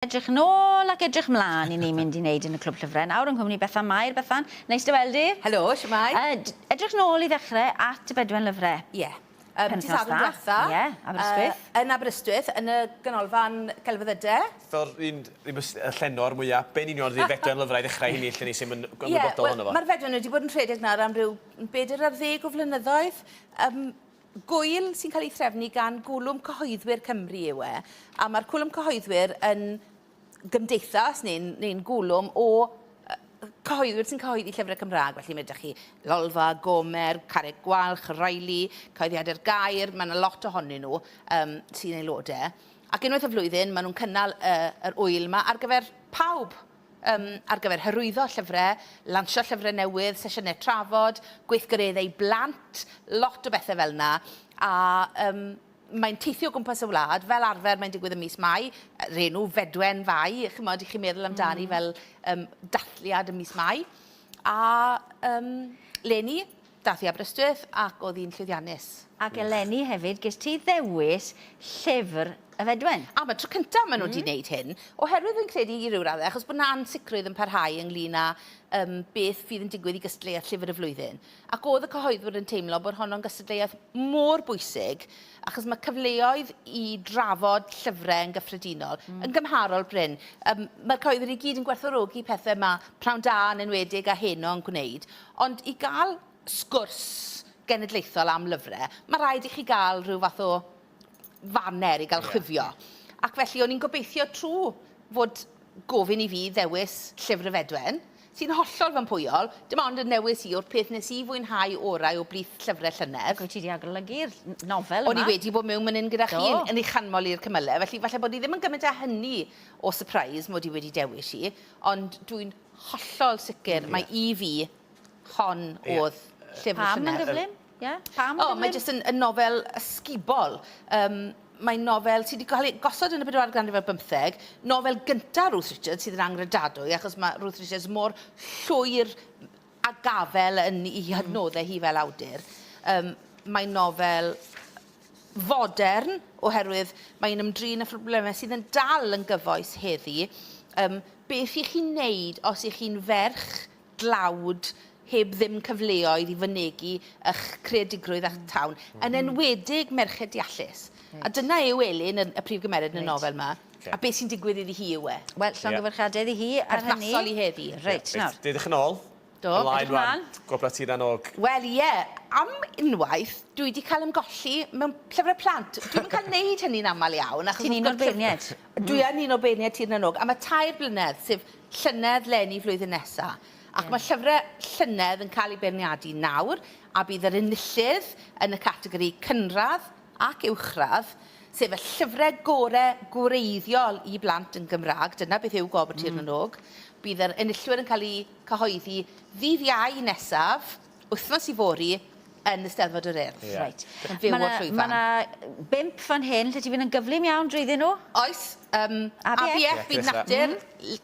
Edrych yn ôl ac edrych mlân i ni mynd i wneud yn y Clwb Llyfrau nawr yng nghwmni Bethan Mair. Bethan, neis dy weld di. Helo, shwmae? Yy, d- edrych yn ôl i ddechre at y Bedwen Lyfre. Ie. Yym, dydd Penwythnos Sadwrn dda. dwetha. Ie, Aberystwyth. Yy, yn Aberystwyth, yn y Ganolfan Gelfyddyde. Fel ry'n ni'n bys- yy llenor mwya, be' yn union fydd Fedwen Lyfrau i ddechrau hynny lle ni sy'm yn g- ymwybodol ohono fo? Ie, wel, ma'r Fedwen wedi bod yn rhedeg nawr am ryw n- bedyr ar ddeg o flynyddoedd. Yym, Gŵyl sy'n cael ei threfnu gan Gwlwm Cyhoeddwyr Cymru yw e, a mae'r Cwlwm Cyhoeddwyr yn gymdeithas neu'n neu gwlwm o cyhoeddwyr sy'n cyhoeddi llyfrau Cymraeg, felly mae ydych chi Lolfa, Gomer, Carreg Gwalch, Riley, Cyhoeddiadau'r Gair, mae yna lot ohonyn nhw um, sy'n aelodau. Ac unwaith y flwyddyn, maen nhw'n cynnal uh, yr wyl yma ar gyfer pawb Yym, ar gyfer hyrwyddo llyfrau, lansio llyfrau newydd, sesiynau trafod, gweithgareddau blant, lot o bethau fel 'na. A yym, mae'n teithio o gwmpas y wlad, fel arfer mae'n digwydd ym mis Mai, yr enw Fedwen Fai, chimod, i chi meddwl amdani fel yym dathliad ym mis Mai. A yym, 'leni. Daeth i Aberystwyth ac oedd hi'n llwyddiannus. Ac eleni hefyd gest ti ddewis llyfr y Fedwen. Am y tro cyntaf maen nhw wedi wneud hyn, oherwydd fi'n credu i ryw raddau achos bod 'na ansicrwydd yn parhau ynglŷn â yym beth fydd yn digwydd i gystadleuaeth Llyfr y Flwyddyn. Ac oedd y cyhoeddwyr yn teimlo bod honno'n gystadleuaeth mor bwysig achos mae cyfleoedd i drafod llyfrau yn gyffredinol yn gymharol brin. Yym, mae'r cyhoeddwyr i gyd yn gwerthfawrogi pethau mae Pnawn Da yn enwedig a Heno yn gwneud, ond i gael sgwrs genedlaethol am lyfrau, mae rhaid i chi gael rhyw fath o faner i gael chwifio. Ac felly, o'n i'n gobeithio trwy fod gofyn i fi ddewis Llyfr y Fedwen, Ti'n hollol fy mhwyol, dim ond yn newis i yw'r peth nes i fwynhau orau o blith llyfre llynedd. Ac wyt ti 'di agolygu'r nofel yma? O'n i wedi bod mewn man 'yn gyda chi, yn ei chanmol i'r cymyle, felly falle bod hi ddim yn gymaint â hynny o surprise mod i wedi dewis hi, ond dwi'n hollol sicr mai i fi hon o'dd llyfr y llynedd. Pam yn gyflym? Ie? Pam? O, mae jyst yn, yn nofel ysgubol. Um, mae'n nofel sydd wedi cael ei gosod yn y bedwaredd ganrif ar bymtheg, nofel gyntaf Ruth Richards sydd yn angredadwy, achos mae Ruth Richards mor llwyr a gafel yn ei hmm. hydnoddau hi fel awdur. Um, mae'n nofel fodern, oherwydd mae'n ymdrin â phroblemau sydd yn dal yn gyfoes heddi. Um, beth i chi'n neud os ych chi'n ferch dlawd heb ddim cyfleoedd i fynegi ych creadigrwydd a'ch tawn, yn enwedig merched deallus. Reit. A dyna yw Elin, y y prif gymeriad yn y nofel 'ma. Reit. A be' sy'n digwydd iddi hi yw e. Wel, llongyfarchiadau iddi hi ar hynny. Perthnasol i heddi. Reit, nawr. Reit, dedwch yn ôl. Do, edrych ymlan. Gwobla Tir na n-Og. Wel, ie, am unwaith, dwi 'di cael ymgolli mewn llyfre plant. Dwi'm yn cael neud hynny'n amal iawn achos... Ti'n un o'r beirniaid. Dwi yn un o beirniaid Tir na n-Og, a ma' tair blynedd, sef llynedd leni flwyddyn nesa. Ac yeah. mae llyfrau llynedd yn cael eu beirniadu nawr, a bydd yr enillydd yn y categori cynradd ac uwchradd, sef y llyfrau gore gwreiddiol i blant yn Gymraeg, dyna beth yw Gwobr Tir mm. Bydd yr enillwyr yn cael eu cyhoeddi ddydd Iau nesaf, wythnos ifori yn Eisteddfod yr Urdd. Ie. Reit. Yn fyw o'r llwyfan. Ma' 'na bump fan hyn lle ti fynd yn gyflym iawn drwyddyn nhw. Oes, yym ABF Byd Natur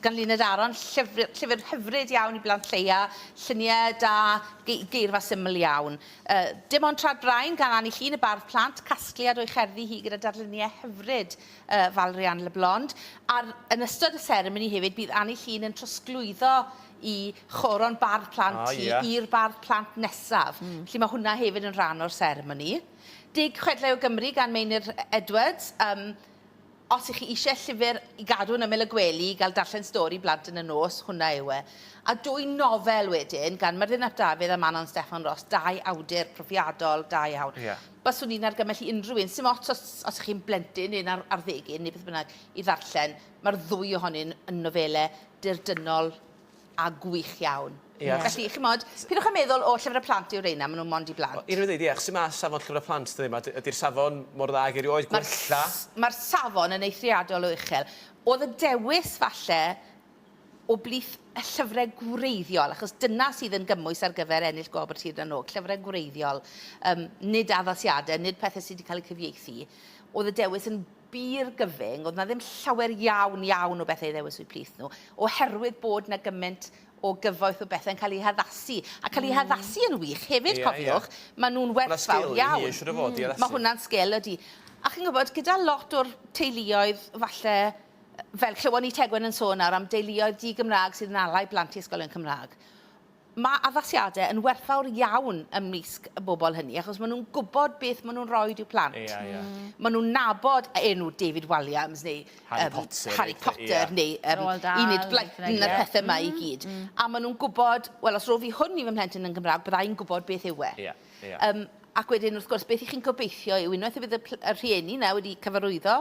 gan Luned Aron, llyfr llyfr hyfryd iawn i blant lleia, llunie da, gei- geirfa syml iawn. Yy Dim ond Tra'r Brain gan Anni Llŷn, y bardd plant, casgliad o'i cherddi hi gyda darllunie hyfryd yy Valrianne Leblond. Ar yn ystod y seremoni hefyd bydd Anni Llŷn yn trosglwyddo i choron bardd plant ti i'r bardd plant nesaf. Felly mae hwnna hefyd yn rhan o'r seremoni. Deg Chwedlau o Gymru gan Meinir Edwards. Yym, os ych chi eisiau llyfr i gadw yn ymyl y gwely i gael darllen stori i blant yn y nos, hwnna yw e. A dwy nofel wedyn gan Myrddin ap Dafydd a Manon Steffan Ros, dau awdur profiadol da iawn. Baswn i'n argymell i unrhyw un, sdim ots os ych chi'n blentyn neu'n arddegyn neu beth bynnag, i ddarllen. Mae'r ddwy ohonyn yn nofelau dirdynnol a gwych iawn. Ie. Felly, chimod, pidwch a meddwl, o, llyfrau plant yw reina, maen nhw mond i blant. Unrhyw ddeud, ie, sy'n mas safon llyfrau plant, dydy, mae, ydy'r safon mor dda ag erioed, gwella. Mae'r safon yn eithriadol o uchel. Oedd y dewis, falle, o blith y llyfrau gwreiddiol, achos dyna sydd yn gymwys ar gyfer ennill Gwobr Tir na nOg, llyfrau gwreiddiol, nid addasiadau, nid pethau sydd wedi cael eu cyfieithu, oedd y dewis yn bur gyfyng, oedd 'na ddim llawer iawn, iawn o bethau i ddewis o'u plith nhw, oherwydd bod 'na gymaint o gyfoeth o bethau'n cael eu haddasu, a cael eu haddasu yn wych hefyd, cofiwch, maen nhw'n werthfawr iawn. Mae 'na sgil i hynny, siŵr o fod, i addasu. Mae hwnna'n sgil, ydy. A chi'n gwybod, gyda lot o'r teuluoedd, falle, fel clywon ni Tegwen yn sôn nawr am deuluoedd di-Gymraeg sydd yn alau plant i ysgolion Cymraeg, Mae addasiadau yn werthfawr iawn ymysg y bobl hynny achos maen nhw'n gwybod beth maen nhw'n rhoi i'w plant. Ie, ie. Mm. Maen nhw'n nabod y enw David Walliams neu Harry um, Potter, Harry Potter ie. neu um, Roald Dahl, Enid Blyton a'r yeah. pethau yma mm, i gyd. Mm. A maen nhw'n gwybod, wel os rofi hwn i fy mhlentyn yn Gymraeg, byddai'n gwybod beth yw e. Yeah, yeah. Um, ac wedyn, wrth gwrs, beth i chi'n gobeithio yw unwaith y bydd y, y rhieni na wedi cyfarwyddo